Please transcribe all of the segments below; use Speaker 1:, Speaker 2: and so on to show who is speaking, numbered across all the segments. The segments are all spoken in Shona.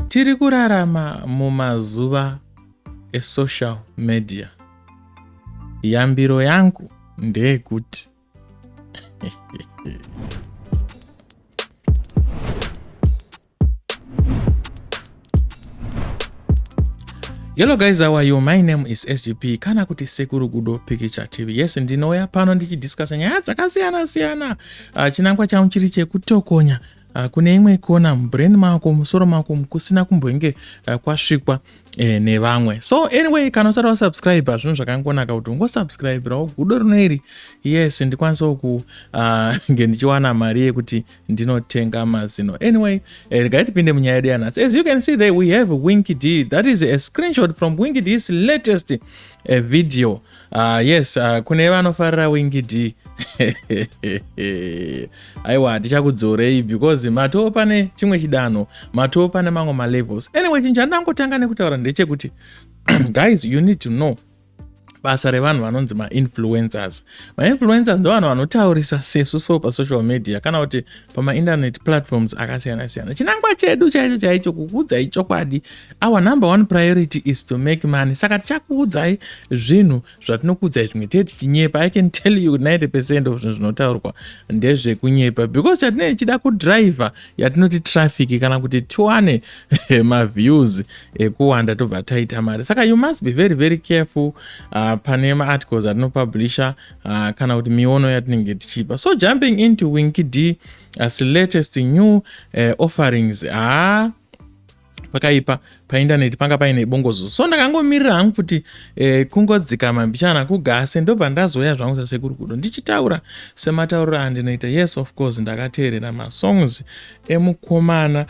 Speaker 1: Tiri kurarama mumazuva esocial media. Yambiro yangu ndeyekuti Hello guys, how are you? My name is SGP kana kuti Sekuru Gudo Pikicha TV. Yes, ndinouya pano ndichidiscuss nyaya dzakasiyana siyana. Uh, chinangwa changu chiri chekutokonya Ah, kune imwe kona mubrain mako musoro mako kusina kumbenge ah, kwasvikwa eh, nevamwe so anyway kana usati wasubscribe hazvinhu zvakangonaka kuti ungosubscribirawo gudo rino iri yes ndikwanisawo kunge ah, ndichiwana mari yekuti ndinotenga mazino anyway eh, regai eh, tipinde munyaya yedu yanhasi as you can see there we have winky d that is a screenshot from winky d's latest eh, video Uh, yes uh, kune vanofarira wingi d aiwa hatichakudzorei because matoo pane chimwe chidanho matoo pane mamwe malevels anyway chinhu chandangotanga nekutaura ndechekuti guys you need to know basa revanhu vanonzi mainfluencers mainfluencers ndovanhu vanotaurisa sesu so pasocial media kana kuti pamainternet platforms akasiyana siyana chinangwa chedu chaicho chaicho kukuudzai chokwadi our number one priority is to make money saka tichakuudzai zvinhu zvatinokuudzai zvimwe tee tichinyepa i can tell you 90 percent of zvinhu zvinotaurwa ndezvekunyepa because chatinee chida kudriver yatinoti traffic kana kuti tiwane maviews ekuwanda tobva taita mari saka you must be very very careful uh, pane maarticles atinopublisha uh, kana kuti miono yatinenge tichipa so jumping into winky d as latest new uh, offerings haa ah, pakaipa paindaneti panga paine bongozo so ndakangomirira hangu kuti eh, kungodzikama mbichana kugase ndobva ndazouya zvangu sasekuru kudo ndichitaura sematauriro andinoita yes of course ndakateerera masongs emukomana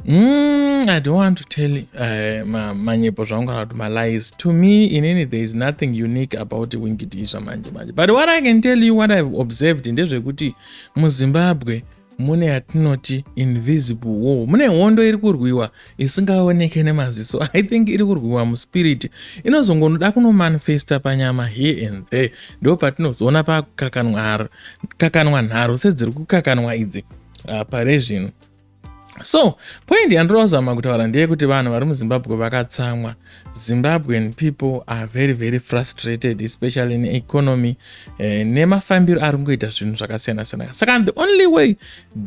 Speaker 1: Mm, I don't want to tell uh, ma, manyepo zvangu kana kuti malies to me in any there is nothing unique about wingitiswa manje manje but what i can tell you what i've observed ndezvekuti muzimbabwe mune yatinoti invisible war mune hondo iri kurwiwa isingaoneke nemaziso i think iri kurwiwa muspirit inozongonoda kunomanifesta panyama here and there ndo patinozoona pakukakanwa nharo sedziri kukakanwa idzi uh, pare zvino so point yandiri kuzama kutaura ndeyekuti vanhu vari muzimbabwe vakatsamwa zimbabwean people are very very frustrated especially neeconomy eh, nemafambiro ari kungoita zvinhu zvakasiyana-siyana saka the only way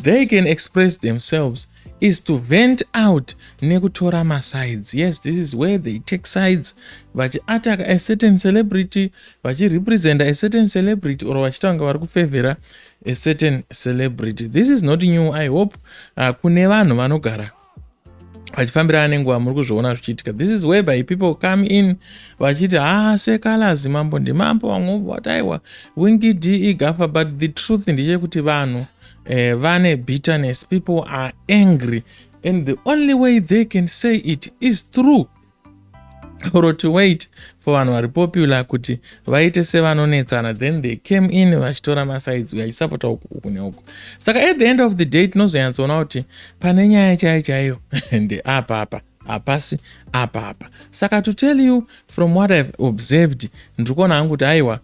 Speaker 1: they can express themselves is to vent out nekutora masides yes this is where they take sides vachiataka a certain celebrity vachirepresenta a certain celebrity or vachitanga vari kufevhera a certain celebrity this is not new i hope uh, kune vanhu vanogara vachifambirana nenguva muri kuzviona zvichiitika this is whereby people come in vachiti haa ah, sekalazi mambo ndimambo vamwe vataiwa wingi de igafa but the truth ndechekuti vanhu eh, vane bitterness people are angry and the only way they can say it is true or to wait for vanhu vari popular kuti vaite sevanonetsana then they came in vachitora masides uyo achisapota uku uku neuku saka at the end of the day tinozonyatsoona kuti pane nyaya chaiyo chaiyo ndeapapa hapasi apapa saka to tell you from what ihave observed ndiri kuona hangu kuti aiwa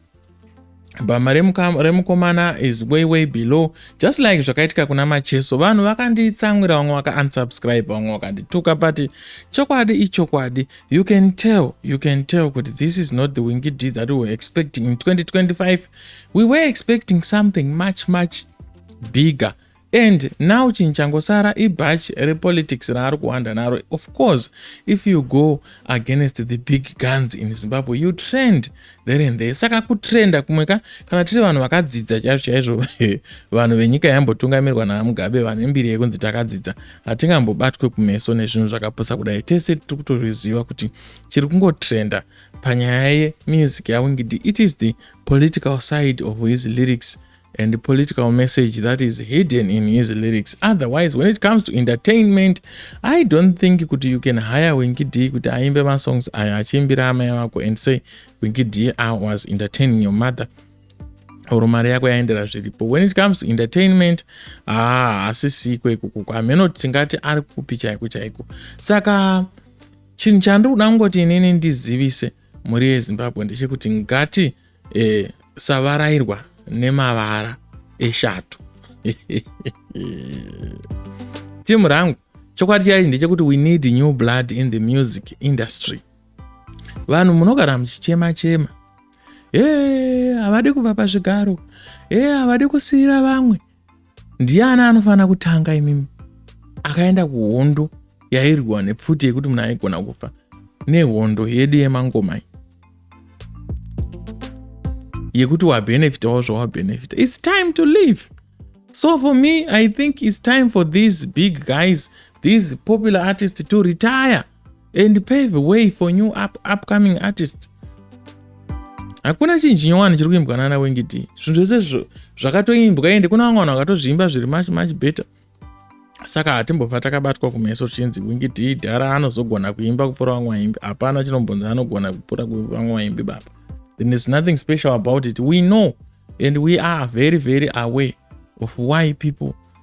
Speaker 1: bhama remukomana is way way below just like zvakaitika kuna macheso vanhu vakanditsamwira vamwe vakaunsubscribe vamwe vakandituka but chokwadi ichokwadi you can tell you can tell kuti this is not the wingi d that we were expecting in 2025 we were expecting something much much bigger And now chinhu changosara ibhachi repolitics raari kuhwanda naro. Of course if you go against the big guns in Zimbabwe you trend there and there. Saka kutrenda kumwe ka kana tiri vanhu vakadzidza chaizvo chaizvo vanhu venyika yambotungamirwa naMugabe vane mbiri yekunzi takadzidza hatingambobatwe kumeso nezvinhu zvakapusa kudai. Tese tiri kutozviziva kuti chiri kungotrenda panyaya yemusic yaWingidi it is the political side of his lyrics and the political message that is hidden in his lyrics otherwise when it comes to entertainment i don't think kuti you can hire winkid kuti aimbe masongs ayo achiimbira amai vako and say winkid i was entertaining your mother or mari yako yaendera zviripo when it comes to entertainment haa ah, hasisiko ikukuko hameno tingati ari kupi chaiko chaiko saka chinhu chandiri kuda kungoti inini ndizivise mhuri yezimbabwe ndechekuti ngati e, savarairwa nemavara eshato timu rangu chokwadi chaichi ndechekuti we need new blood in the music industry vanhu munogara muchichema chema e havadi kuva pazvigaro e havadi kusiyira vamwe ndiani anofanira kutanga imimi akaenda kuhondo yairwa nepfuti yekuti munhu aigona kufa nehondo yedu yemangomai yekuti wabenefitawo zvawabenefita its time to live so for me i think its time for these big guys these popular artists to retire and pave way for new up, upcoming artist hakuna chinhu chinyowani chiri kuimbwa nana wengidi zvinhu zvese zvakatoimbwa ende kuna vamwe vanhu vakatozviimba zviri much much better saka hatimbobva takabatwa kumeso tichinzi wingidi dhara anozogona kuimba kupfuura vamwe vaimbi hapana chinombonzi anogona kupfuura vamwe vaimbi baba then is nothing special about it we know and we are very very aware of why people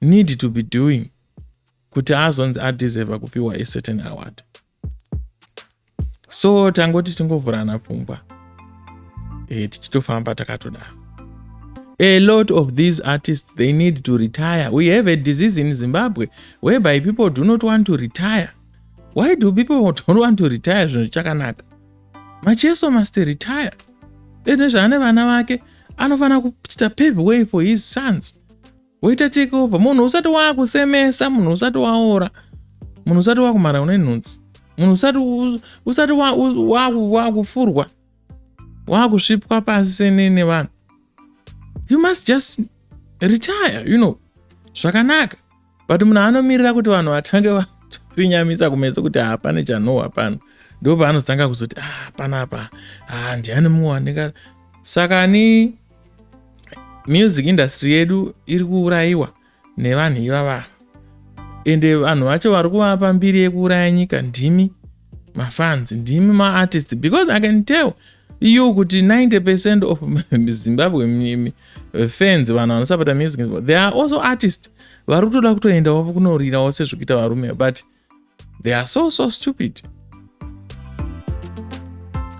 Speaker 1: need to be doing kuti azonzi adeserva kupiwa a certain award so tangoti tingovhurana pfungwa e, tichitofamba takatodaro a lot of these artists they need to retire we have a disease in zimbabwe whereby people do not want to retire why do people don't want to retire zvinhu chakanaka macheso must retire ene zvaane vana vake anofanira kuita pave way for his sons woita take over munhu usati waakusemesa munhu usati waora munhu usati wakumhara une nhunzi munhu usati usati waakufurwa waakusvipwa pasi senene vanhu you must just retire you know zvakanaka but munhu anomirira kuti vanhu vatange vafinyamisa kumeso kuti hapane chanohwa pano ndo paanotanga kuzoti ah, panapa ah, ndiani mumwe wandinga saka ni music industry yedu iri kuurayiwa nevanhu ivava ende vanhu vacho vari kuvapa mbiri yekuuraya nyika ndimi mafans ndimi maartist because i can tell you kuti 90 percent of zimbabwe fans vanhu vanosapota music they are also artist vari kutoda kutoendawo kunorirawo sezvekuita varume but they are so so stupid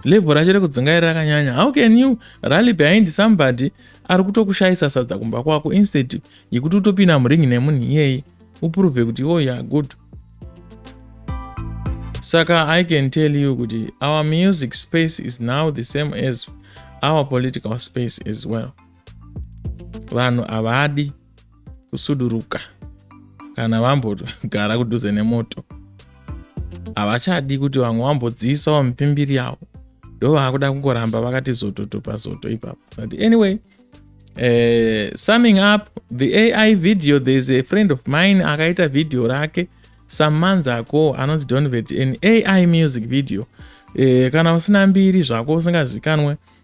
Speaker 1: level racho rekudzungaira rakanyanya how can you rally behind somebody ari kutokushayisa sadza kumba kwako instead yekuti utopinda muringi nemunhu iyeye uprove kuti iwo oh, ya good saka i can tell you kuti our music space is now the same as our political space as well vanhu havadi kusuduruka kana vambogara kudhuze nemoto havachadi kuti vamwe vambodziisawo mipimbiri yavo ndovaakuda kungoramba vakati zototo pazoto ipapo but anyway uh, summing up the ai video thereis a friend of mine akaita video rake some months ago anonzi donvet an ai music video uh, kana usina mbiri zvako usingazikanwe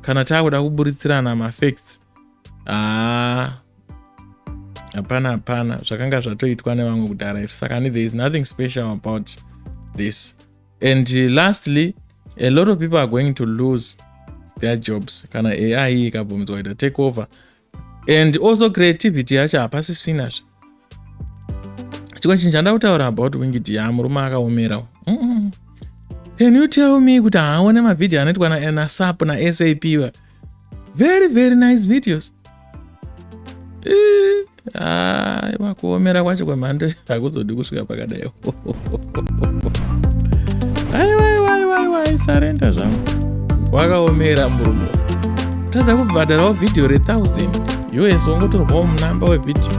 Speaker 1: kana taakuda kuburitsirana mafacts haa ah, hapana hapana zvakanga zvatoitwa nevamwe kudhara izvi saka ni there is nothing special about this and lastly a lot of people are going to lose their jobs kana ai ikabvumdzwa kuita take over and also creativity yacho hapasisina zve chimwe chinhu chandida kutaura about wingidi ya murume akaomera mm -mm. can you tell me kuti haaone mavhidhiyo anoitwa nasap nasap va very very nice videos aiwa kuomera kwacho kwemhando hakuzodi kusvika pakadaiwo aiwaiwaiwaisareenda zvangu wakaomera murume tadza kubhadharawo vhidhiyo rethousand us wangotorwawo munamba wevhidhiyo